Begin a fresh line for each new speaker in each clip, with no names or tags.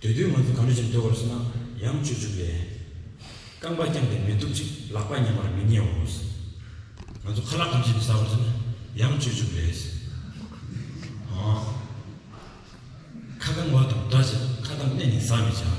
དེ་དུས་ང་ཚོ་ག་འདྲ་ཞིག་འདོད་བར་སོང་ན་ཡང་བཅོས་བཅུག་ལས། རྐང་པ་བརྐྱངས་ཏེ་མི་ཐུབ་ཅིག་ལག་པ་ཉམས་པར་མི་ཉེ་བའོ། ང་ཚོ་ཁ་ལག་གང་ཞིག་ཟ་བར་སོང་ན་ཡང་བཅོས་བཅུག་ལས། འང། ཁ་བསྐང་བ་དང་འདྲ་ཞིག་ཁ་དང་སྣེ་ནས་ཟ་མི་བྱ།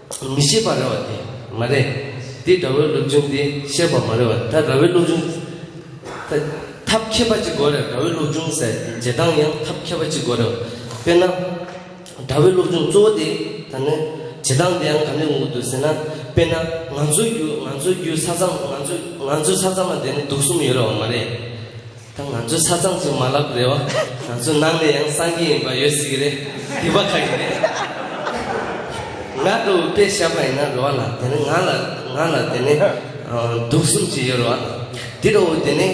མི་ཤེས་པ་རེད་བ་དེ་མ་རེད། འདི་དགྲ་བོའི་སློབ་སྦྱོང་དེ་ཤེས་པ་མ་རེད་བ། ད་དགྲ་བོའི་སློབ་སྦྱོང་ད་ཐབས་མཁས་པ་གཅིག་དགོས་རེད་དགྲ་བོའི་སློབ་སྦྱོང་ཟེར་བྱེད་སྟངས་ཡང་ཐབས་མཁས་པ་གཅིག་དགོས་རེད་བ། དཔེར་ན། དགྲ་བོའི་སློབ་སྦྱོང་གཙོ་བོ་དེ་ད་ནི་བྱེད་སྟངས་དེ་ཡང་ག་ནས་འོང་གི་འདུག་ཟེར་ན། དཔེར་ན་ང་ཚོའི་རྒྱུ་ང་ཚོའི་རྒྱུ་ས་ཚང་ང་ཚོའི་ས་ཚང་ན་དེ་ནི་དུག་གསུམ་ཡོད་རེད་བ་མ་རེད། ད་ང་ཚོའི་ས་གཙང་ཚོའི་མ་ལབ་རེད་བ། ང་ཚོའི་ནང་ནས་ཡང་སངས་རྒྱས་ཡིན་པ་ཡོད་སྲིད་གི་རེད། དེ་བ་ཁ་གི་རེད། ང་ལྟ་བུ་དཔེ་ཞབས་པ་ཡིན་ན་རེད་བ་ལ་དེ་ནས་ང་ལ་ང་ལ་དེ་ནས་དུག་གསུམ་ཅིག་ཡོད་རེད་བ། དེ་ལྟ་བུ་དེ་ནས་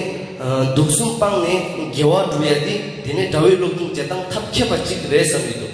དུག་གསུམ་སྤངས་ནས་དགེ་བ་བསྒྲུབ་ཡ་དེ་དེ་ནས་དགྲ་བོའི་སློབ་སྦྱོང་བྱེད་སྟངས་ཐབས་མཁས་པ་ཅིག་རེད་བསམ་གྱི་འདུག།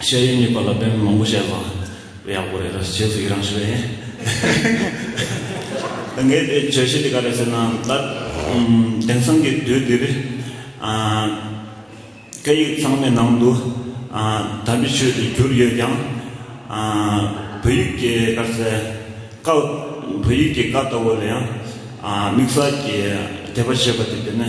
ཤེས་ཡོན་གཉིས་པ་ལ་འབེབས་མང་པོ་བྱས་ལ་ཡག་པོ་རེད་རྗེས་སུ་ཡི་རང་ཞུ་བའི་ཡིན། ངས་དེ་བརྗོད་གཞི་དེ་ག་རེད་ཟེར་ན་ད་དེང་སང་གི་དུས་འདིར་སྐད་ཡིག་ཚང་མའི་ནང་དུ་དམ་པའི་ཆོས་དུ་གྱུར་ཡོད་ཀྱང་བོད་ཡིག་གི་དཀར་གསལ་ཀ་བོད་ཡིག་གི་ཀ་ལྟ་བུ་ལ་ཡང་དམིགས་བསལ་གྱི་དད་པ་བྱེད་པ་དེ་དེ་ནི་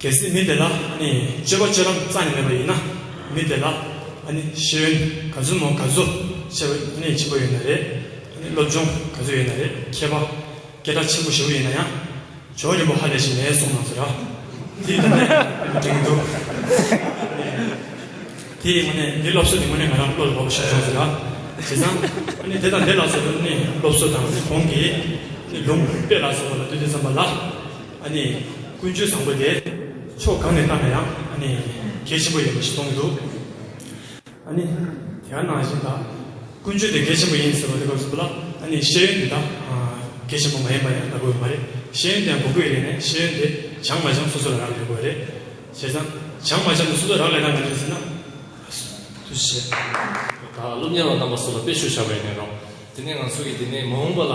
གལ་སྲིད་མི་དེ་ལ་ནི་སྤྱོད་པ་སྤྱོད་ལམ་གཙང་ངེ་མེད་པ་ཡིན་ན་མི་དེ་ལ་ནི་ཤེས་ཡོན་ག་ཚོད་མང་ག་ཚོད་ཆེ་བ་ནི་ཆེན་པོ་ཡོད་ན་རེད་སློབ་སྦྱོང་ག་ཚོད་ཡོད་ན་རེད་མཁས་པ་སྐད་གྲགས་ཆེན་པོ་ཞེ་བོ་ཡིན་ན་ཡང་ཇོ་རིན་པོ་ཧ་ལས་ཤིག་མེད་གསུངས་མ་ཟེར་ར་དེ་ཡི་ད་ནས་འགྲིག་མི་འདུག་དེ་ཡི་ངོ་ནས་འདི་སློབ་གསོ་ནི་ངོ་ནས་ང་རང་བློ་ལ་བབ་པ་ཞིག་བྱུང་ཟེར་ར་བྱས་ཙང་ནི་དེ་དང་དེ་ལ་སོགས་པ་ནི་སློབ་གསོ་དང་གོང་གི་ནི་ལུང་དཔེ་ལ་སོགས་པ་ལ་ལྟོས་དུས་ཙམ་པ་ལ། ཨ་ནི། ཀུན་སྤྱོད་བཟང་པོ་དེ། ཕྱོགས་གང་ནས་བལྟ་ན་ཡང། ཨ་ནི། གལ་ཆེན་པོ་ཡིན་པ་ཞིག་མཐོང་གི་འདུག། ཨ་ནི། དེ་ཡང་ནང་བཞིན་དང། ཀུན་སྤྱོད་དེ་གལ་ཆེན་པོ་ཡིན་ཟེར་བ་དེ་སྐབས་སུ་འདུག་ལ། ཨ་ནི། ཤེས་ཡོན་དེ་དག། གལ་ཆེན་པོ་མ་ཡིན་པ་ཡང་ལྟ་དགོས་ཀྱི་མ་རེད། ཤེས་ཡོན་དེ་ཡང་དགོས་ཀྱི་རེད་ནས་ཤེས་ཡོན་དེ་བྱང་མ་བྱང་སོ་སོ་ལ་རག་ལས་དགོས་པ་རེད། བྱས་ཙང། བྱང་མ་བྱང་དེ་སོ་སོ་རག་ལས་ན་མི་འགྲིག་ཟེར་ན། ཐུགས་རྗེ་ཆེ། ད་
སློབ་གཉེར་བ་རྣམ་པ་སུ་ལ་དཔེ་བཤུ་བྱ་བའི་ནས་རོགས། དེ་ནས་ང་ཚོ་གིས་དེ་ནས་མ་འོངས་པ་ལ་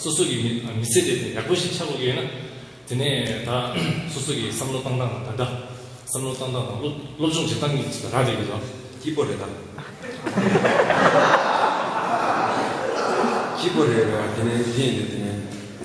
སོ་སོ་གི་མི་ཚེ་དེ་ཡག་པོ་ཞིག་ཆགས་དགོས་ཀྱི་ཡོད་ན། དེ་ནས་ད་སོ་སོ་གིས་བསམ་བློ་བཏང་སྟངས་དང་ད་ལྟ་བསམ་བློ་བཏང་སྟངས་དང་སློབ་སྦྱོང་བྱེད་སྟངས་གཉིས་རག་རེད་ཀྱི་རོ། སྐྱིད་པོ་རེད་
དམ། སྐྱིད་པོ་རེད་རེད་བ་དེ་ནས་དེ་ཡིན་དུས་དེ་ནས།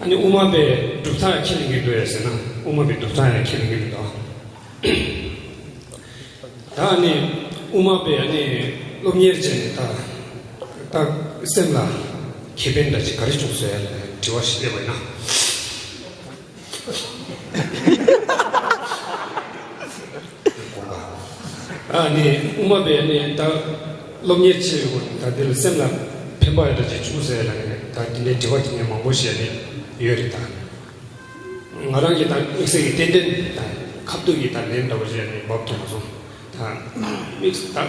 ཨ་ནི་དབུ་མ་པའི་གྲུབ་མཐའ་ཁས་ལེན་གྱི་འགྲོ་ཡ་ཟེར་ན་དབུ་མ་པའི་གྲུབ་མཐའ་ཡང་ཁས་ལེན་གྱི་འགྲོ། ད་ཨ་ནི་དབུ་མ་པའི་ཨ་ནི་སློབ་གཉེར་བྱས་ནས་ད་ད་སེམས་ལ་ཁེ་ཕན་འདྲ་ཅིག་ག་རེ་བྱུང་ཟེར་ཡ་ལ་དྲི་བ་ཞིག་སླེབས་པ་ཡིན་ན། དགོངས་པ། ཨ་ནི་དབུ་མ་པའི་གནས་བརྟག་སློབ་གཉེར་ཆེ་བའི་སྐོར་ད་འདི་ལ་སེམས་ལ་ཕན་པ་རེད་དོ་ཅེས་ཅུང་ཟད་ལ་ངས་ད་འདི་ནས་དྲི་བ་དེ་ཉིད་མང་པོ་བྱས་ནས་ཡོད་རེད་ད། ང་རང་གིས་ད་དམིགས་བསལ་གྱི་རྟེན་འབྲེལ་ད་ཁ་བསྡུར་གྱིས་ད་ལན་འདྲ་པོ་བྱས་ནས་འབབ་ཐུབ་མ་སོང་ད། དམིགས་བསལ་ད།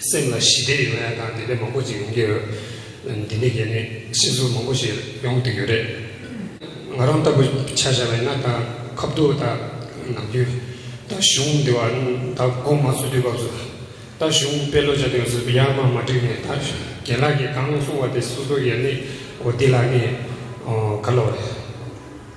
སེམས་ལ་ཞི་བདེ་ཡོང་ཡ་དང་དེ་འདྲས་མང་པོ་ཅིག་ཡོང་གི་ཡོད། འདི་ནས་གྱེས་ནས་སེམས་ཚོར་མང་པོ་ཞིག་ཡོང་གི་འདུག་ཡོད་རེད། ང་རང་ལྟ་བུ་ཆ་བཞག་པའི་ན་དང་ཁ་བདུག་དང་ནམ་རྒྱུན་ད་གཞུང་འདི་བ་ད་དགོང་མ་ཚུགས་དུས་སྐབས་སུ་ད་གཞུང་དཔེ་ལོ་བྱ་དུས་སུ་ཡར་མར་མ་བསྒྲིགས་ནས་ད་རྒན་ལགས་ཀྱིས་གང་གསུང་བ་དེ་སུ་སུ་ཡར་ནི་འོ་འདི་ལ་ནི་ག་ལོ།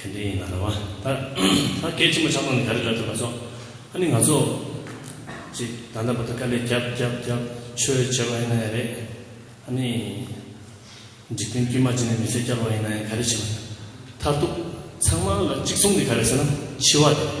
དེ་འདྲ་ཡིན་ན་རེད་བ། ད་ད་སྐད་ཆེན་པོ་ཆགས་སྟངས་ནི་ག་རེ་རེད་ད་ང་ཚོ། ཨ་ནི་ང་ཚོ་ཅིག་ད་ལྟ་བར་དུ་དཀའ་ལས་རྒྱབ་རྒྱབ་རྒྱབ་ཆོས་བྱས་པ་ཡིན་ན་ཡང་རེད། ཨ་ནི་འཇིག་རྟེན་དཀྱུས་མ་ཅིག་ནས་མི་ཚེ་བསྐྱལ་བ་ཡིན་ན་ཡང་ག་རེ་བྱས་པ་ཡིན། མཐར་ཐུག་ཚང་མ་ལ་གཅིག་མཚུངས་ཀྱི་ག་རེ་ཟེར་ན་འཆི་བ་དེ་རེད།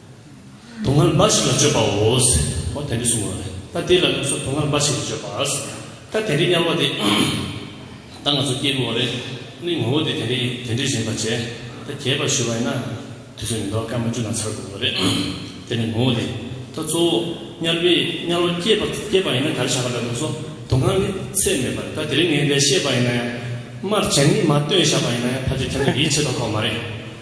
དུག་ལྔ་འབའ་ཞིག་ལ་སྤྱོད་པའོ། ཧོ་དེ་འདྲའི་གཟུང་བ་རེད་ད་དེ་ལ་ང་ཚོ་དུག་ལྔ་འབའ་ཞིག་ལ་སྤྱོད་པ། ད་དེ་འདྲའི་དམྱལ་བ་དེ་ད་ང་ཚོ་སྐྱེ་དགོས་བ་རེད། ནི་ངོ་བོ་དེ་དེ་འདྲའི་དེ་འདྲའི་བཞིན་པར་བྱས་ད་གྱེས་པར་ཞུ་བ་ཡིན་ན། དུས་ཚོད་ཡིན་དོག་སྐར་མ་བཅུ་ན་ཚར་དགོས་བ་རེད། དེ་ནི་ངོ་བོ་དེ། ད་གཙོ་བོ་དམྱལ་བའི་དམྱལ་བ་སྐྱེས་པ་སྐྱེས་པ་ཡིན་ན་ག་རེ་བྱ་བ་ལ་ལུགས་སོ། དུག་ལྔ་ནི་ཚད་མེད་པ་རེད་ད་དེ་རིང་ངས་འདི་ཤེས་པ་ཡིན་ན་ཡང། དམར་བྱང་ནི་མ་བཏོན་བཞག་པ་ཡིན་ན་ཡང་ཕལ་ཆེར་ཁྱེད་ཚོ་ཡིད་ཆེས་པ་ཁོག་མ་རེད།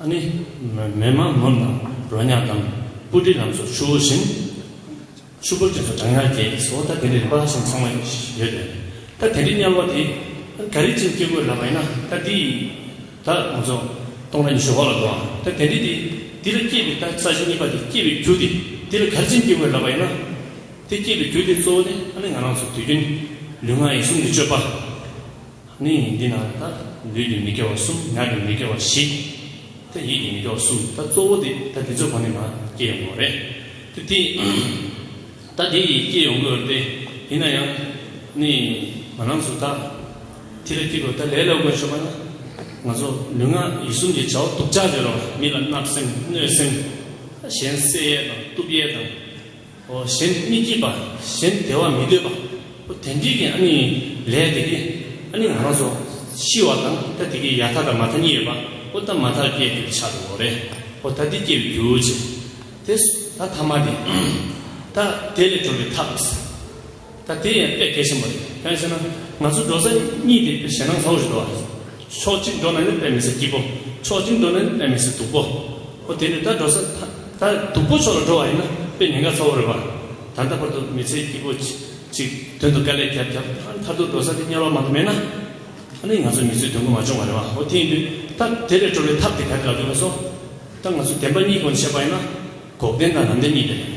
ཨ་ནི། མེ་མ་མོ་ན་རོ་ཉག་དང། སྤུ་གྲི་རྣམས་སུ་ཆུ་བོ་བཞིན། ཆུ་བུར་ཅན་སོགས་བྲག་ཉག་བརྒྱད་ཀྱིས་སོ། ད་དེ་འདྲའི་རིག་པ་ལྷག་བསམ་ཚང་བ་ཡོད་དོ། ད་དེ་འདྲའི་དམྱལ་བ་དེ། ག་རེ་ཅིང་སྐྱེ་དགོས་ལབ་པ་ཡིན་ན། ད་འདི་ཡིས། ད་ང་ཚོ། སྟོང་ར་ཉི་ཤུ་བ་ལ་འགྲོ། ད་དེ་འདྲས་དེ། འདི་ལ་སྐྱེས་པའི་ད་ས་གཞི་གཉིས་པ་དེ་སྐྱེས་པའི་རྒྱུ་དེ། དེ་ལ་ག་རེ་ཅིང་སྐྱེ་དགོས་ལབ་པ་ཡིན་ན། དེ་སྐྱེས་པའི་རྒྱུ་དེ་གཙོ་བོ་ནི་ཨ་ནི་ང་རང་ཚོ་དུས་རྒྱུན། ལུས་ངག་ཡིད་གསུམ་གྱི་སྤྱོད་པ། གནས་ཡིན་འདི་ན་ད་ལུས་ཀྱི་མི་དགེ་བ་གསུམ་ངག་གི་མི་དགེ་བ་བཞི། ད་ཡིད་ཀྱི་མི་དགེ་བ་གསུམ་ད་གཙོ་བོ་དེ་ད་དེ་ཚོ་གོ་ནས་མ་སྐྱེས་ཡོང་ངོ་རེད་དེ་དེ། ད་དེ་ཡིས་སྐྱེས་ཡོང་གི་རེད་དེ་ཡིན་ན་ཡང་ནི་ང་རང་ཚོ་ད་
དེ་ལ་སྐྱེས་དགོས་ད་ལས་ལ་དགོས་ཆོག་པ་ན་ང་ཚོ་ལུས་ངག་ཡིད་གསུམ་གྱི་བྱ་བ་སྡུག་ཅག་རེད་རོ་མི་ལ་བརྣབ་སེམས་གནོད་སེམས་གཞན་སྲེད་ཡས་དང་གཏུབ་ཡས་དང་གཞན་མི་སྐྱིད་པ། གཞན་བདེ་བ་མི་འདོད་པ། དེ་འདྲི་གི་ཨ་ནི་ལས་དེ་གི་ཨ་ནི་ང་རང་ཚོ་ཤི་བ་དང་ད་དེ་གི་ཡ་ཐ་དང་མ་ཐ་གཉིས་ཡོད་པ་ཨོ་ད་མ་ཐ་སྐྱེ་རྒྱུ་ཆ་དོ་རེ་ཨོ་ད་དེ་སྐྱེ་བའི་རྒྱུ་བྱེད་དེ་ད་ཐ་མ་དེ་ད་དེ་ལས་གྲོལ་བའི་ཐབས། ད་དེ་ཡང་དཔེ་གལ་ཆེན་པོ་རེད་གང་ཞེ་ན། ང་ཚོ་འགྲོ་ས་གཉིས་དེ་ཞེད་སྣང་ཚ་བོ་ཞིག་འགྲོ་བ་རེད། ཕྱོགས་གཅིག་འགྲོ་ན་ནི་དཔེ་མི་ཚེ་སྐྱིད་པོ། ཕྱོགས་གཅིག་འགྲོ་ན་ནི་དཔེ་མི་ཚེ་སྡུག་པོ། ཨོ་དེ་ནི་ད་འགྲོ་ས་ད་སྡུག་པོ་ཕྱོགས་ལ་འགྲོ་བ་ཡིན་ན་དཔེ་ཉེན་ཁ་ཚ་བོ་རེད་བ། ད་ལྟ་བར་དུ་མི་ཚེ་སྐྱིད་པོ་ཅིག་དོན་དུ་དཀའ་ལས་བརྒྱབ་བརྒྱབ་ད་མཐར་ཐུག་འགྲོ་ས་དེ་གཉེར་བ་མ་གཏོགས་མེད་ན། ཨ་ནི་ང་ཚོ་མི་ཚོས་དོན་གོ་མ་བྱུང་བ་རེད་བ། ཨོ་དེ་ཡིན་དུས་ད་དེ་ལས་སྒྲོལ་བའི་ཐབས་དེ་ག་རེ་ལ་དགོས་ན་སོང། ད་ང་ཚོས་བདེན་པ་གཉིས་སྐོར་བཤད་པ་ཡིན་ན། འགོག་བདེན་དང་ལམ་བདེན་གཉིས་རེད།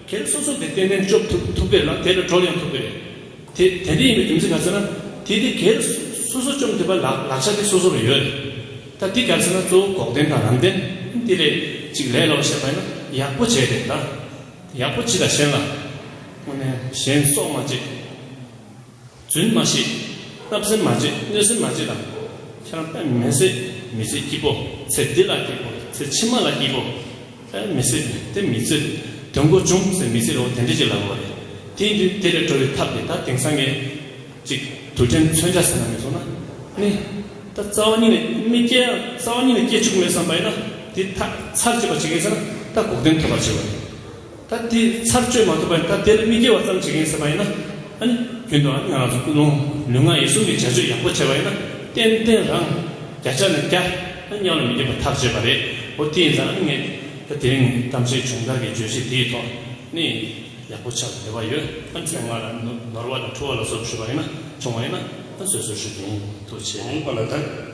ཁྱེད་སོ་སོ་དེ་གཏན་གཏན་སྐྱོབ་ཐུབ་ཐུབ་པས་ན་དེ་ལ་གྲོགས་ཡང་ཐུབ་ཀྱི་རེད། དེ་དེ་ཡིན་པའི་རྒྱུ་མཚན་ག་ཚོད་ན་དེ་དེ་གས་སོ་སོ་བཅོམ་ཐུབ་པ་ལག་ལག་ཆ་དེ་སོ་སོ་ལ་ཡོད། ད་དེ་ག་ཚོད་ན་གཙོ་བོ་གོག་བདེན་དང་རམ་བདེན་དེ་ལས་ཅིག་ལས་ལ་བ་ཞེས་པ་ཡིན་ན་ཡག་པོ་བྱས་ཏེ་ད་ཡག་པོ་ཅི་ལ་གཞན་ལ། དངོས་གནས་གཞན་སྲོག་མ་བཅད། རྫུན་མ་བཤད། སྟབས་ཟིན་མ་བྱེད་གནོད་ཟིན་མ་བྱེད་དང། ཁྱེད་རང་དཔེ་མི་བཟད་མི་བཟད་སྐྱིད་པོ་ཚེ་འདི་ལ་སྐྱིད་པོ་ཚེ་ཕྱི་མ་ལ་སྐྱིད་པོ། དཔེ་མི་བཟད་དེ་མི་ཚེ་དོན་མགོ་བྱུང་ཟེར་མི་ཚེ་རོ་དེ་འདྲས་ཅིག་ལབ་པ་རེད། དེའི་དུས་དེ་རེད་འགྲོ་བའི་ཐབས་དེ་ད་དེང་སང་ངས་ཅིག་དུས་དྲན་མཚོན་ཆ་ཟེར་ན་མི་ཐུག་ན་ནི། ད་རྩ་བ་གཉིས་ནས་མི་སྐྱེ་ཡང་རྩ་བ་གཉིས་ནས་སྐྱེ་བཅུག་མེད་བསམ་པ་ཡིན་ན་དེ་ད་ཚར་བཅད་པ་བྱེད་མཁན་ཟེར་ན་ད་གོག་དོན་ཐོབ་པར་བྱེད་པ་རེད། ད་དེ་ཚར་གཅོད་མ་ཐུབ་པ་ཡིན་ད་དེ་ལ་མི་སྐྱེ་བ་ཙམ་བྱེད་མཁན་ཟེར་བ་ཡིན་ན། ཨ་ནི། རྒྱུན་དུའང་ང་རང་ཚོ་ཀུན་སློང་ལུས་ངག་ཡིད་གསུམ་གྱི་བྱ་སྤྱོད་ཡག་པོ་བྱས་པ་ཡིན་ན་ཏན་ཏན་རང། བརྒྱ་ཆ་ནས་བརྒྱ། ཨ་ནི་གཉའ་ལ་མི་འགྱུར་བ་ཐག་བཅད་པ་རེད། འོ་དེ་ཡིན་ཙང་ཨ་ནི་ངས། ད་དེ་རིང་གཏམ་བཤད་སྦྱོང་བརྡར་གྱི་བརྗོད་གཞི་དེའི་ཐོག་ནས། ཡག་པོ་ཆགས་ཡོད་པ་ཡོད་ཨ་ནི་ཁྱོད་ང་ལ་ནོར་བ་དང་འཁྲུལ་བ་ལ་སོགས་ཞུས་པ་ཡིན་ན་བྱུང་བ་ཡིན་ན། ཨ་ནི་བཟོད་གསོལ་ཞུ་བདེན་དུ་བྱས། འོངས་པ་ལ་ད།